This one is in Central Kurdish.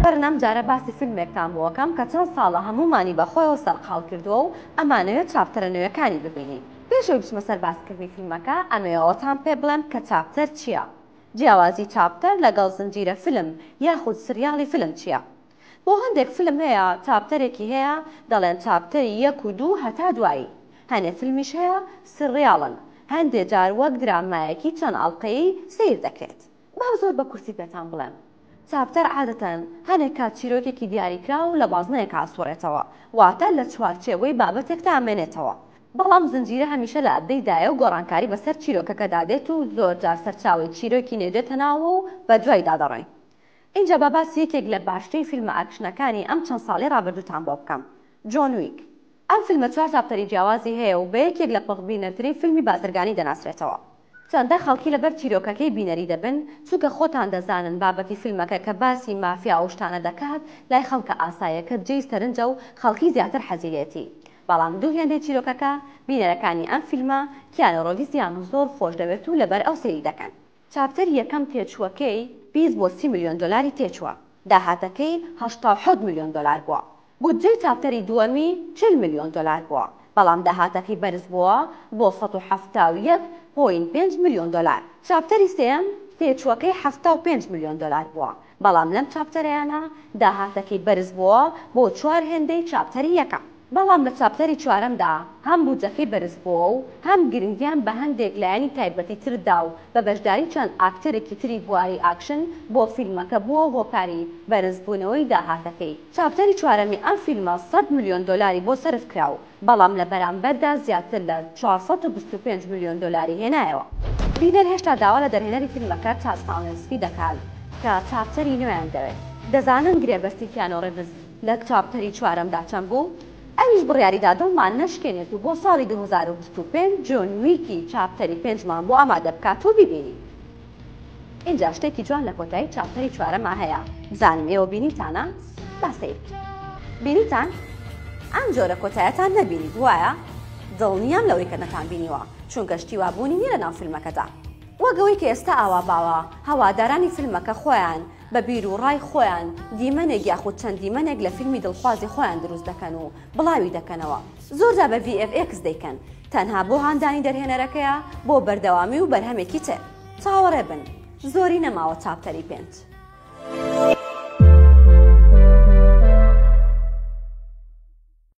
بەرن ئەم جارە باسی فیلمێکتان بۆ ئەکەم کە چەند ساڵە هەموومانی بە خۆیەوە سەرقاڵ کردووە و ئەمانەوێ چاپتەرە نوێکانی ببینین پێش ئەوەی بچمە سەر باسکردنی فیلمەکە ئەمەوێ ئەوەتان پێ بڵێم کە چاپتەر چییە جیاوازی چاپتەر لەگەڵ زنجیرە فیلم یاخود سریاڵی فیلم چییە بۆ هەندێک فیلم هەیە چاپتەرێکی هەیە دەڵێن چاپتەری یەک و دوو هەتا دوایی هەنێ فیلمیش هەیە سریاڵن هەندێ جار وەک درامایەکی چەند ئەڵقەیی سەیر دەکرێت با زۆر بە کورتی پێتان بڵێم، چاپتەر عادەتەن هەنێک کات چیرۆکێکی دیاریکراو لە بازنەیەک ئاسوڕێتەوە، واتە لە چوارچێوەی بابەتێکدا ئەمێنێتەوە، بەڵام زنجیرە هەمیشە لە ئەبدەی دایە و گۆڕانکاری بەسەر چیرۆکەکەدا دێت و زۆر جار سەرچاوەی چیرۆکی نوێ دێتە ناوەوە و بەدوایدا دەڕۆین. ئینجا با باسی یەکێک لە باشترین فیلمە ئاکشنەکانی ئەم چەند ساڵەی ڕابردووتان بۆ بکەم، جۆن ویک. ئەم فیلمە چوار چاپتەری جیاوازی هەیە و بە یەکێک لە پەخبینەرترین فیلمی بازرگانی دەناسرێتەوە. چەندە خەڵکی لەبەر چیرۆکەکەی بینەری دەبن، چونکە خۆتان دەزانن بابەتی فیلمەکە کە باسی مافیا و شتانە دەکات لای خەڵکە ئاسایەکە جێی سەرنجە و خەڵکی زیاتر حەزی لێتی بەڵام دوو هێندەی چیرۆکەکە بینەرەکانی ئەم فیلمە کیانۆ رۆڤیزیان زۆر خۆش دەوێت و لەبەر ئەو سەیری دەکەن. چاپتەری یەکەم تێچووەکەی بیست بۆ سی ملیۆن دۆلاری تێچووە، داهاتەکەی هەشتا و حەوت ملیۆن دۆلار بووە، بودجەی چاپتەری دووەمی چل ملیۆن دۆلار بووە، بەڵام داهاتەکەی بەرزبووە بۆ سەد و حەفتا و یەک پۆینت پێنج ملیۆن دۆلار، چاپتەری سێیەم تێچووەکەی حەفتا و پێنج ملیۆن دۆلار بووە، بەڵام لەم چاپتەرەیانە داهاتەکەی بەرزبووە بۆ چوار هێندەی چاپتەری یەکەم. بەڵام لە چاپتەری چوارەمدا هەم بودجەکەی بەرزبووە و هەم گرنگیان بە هەندێک لایەنی تایبەتی تر دا و بە بەشداری چەند ئاکتەرێکی تری بواری ئاکشن بۆ فیلمەکە بووە هۆکاری بەرزبوونەوەی داهاتەکەی. چاپتەری چوارەمی ئەم فیلمە سەد ملیۆن دۆلاری بۆ سەرف کرا و بەڵام لە بەرامبەردا زیاتر لە چوار سەد و بیست و پێنج ملیۆن دۆلاری هێنایەوە. بینەر هێشتا داوا لە دەرهێنەری فیلمەکە تاد ساڵێنسکی دەکات کە چاپتەری نوێیان دەوێت. دەزانن گرێبەستی کیانۆ ڕیڤز لە چاپتەری چوارەمدا چەند بوو؟ ئەویش بڕیاری دا دڵمان نەشکێنێت و بۆ ساڵی دوو هەزار و بیست و پێنج جۆن ویکی چاپتەری پێنجمان بۆ ئامادە بکات و بیبینین. ئینجا شتێکی جوان لە کۆتایی چاپتەری چوارەما هەیە بزانم ئێوە بینیوتانە با سەیر بینیتان ئەم جۆرە کۆتایەتان نەبینیت وایە دڵنیام لەوەی کە نەتان بینیوە چونکە شتی وا بوونی نیە لە ناو فیلمەکەدا وەک ئەوەی کە ئێستا ئاوا باوە هەوادارانی فیلمەکە خۆیان بە بیر و ڕای خۆیان دیمەنێک یاخود چەند دیمەنێک لە فیلمی دڵخوازی خۆیان دروست دەکەن و بڵاوی دەکەنەوە زۆرجا بە ڤی ئێف ئێکس دەیکەن تەنها بۆ هاندانی دەرهێنەرەکەیە بۆ بەردەوامی و بەرهەمێکی تر چاوەڕێ بن زۆری نەماوە چاپتەری پێنج.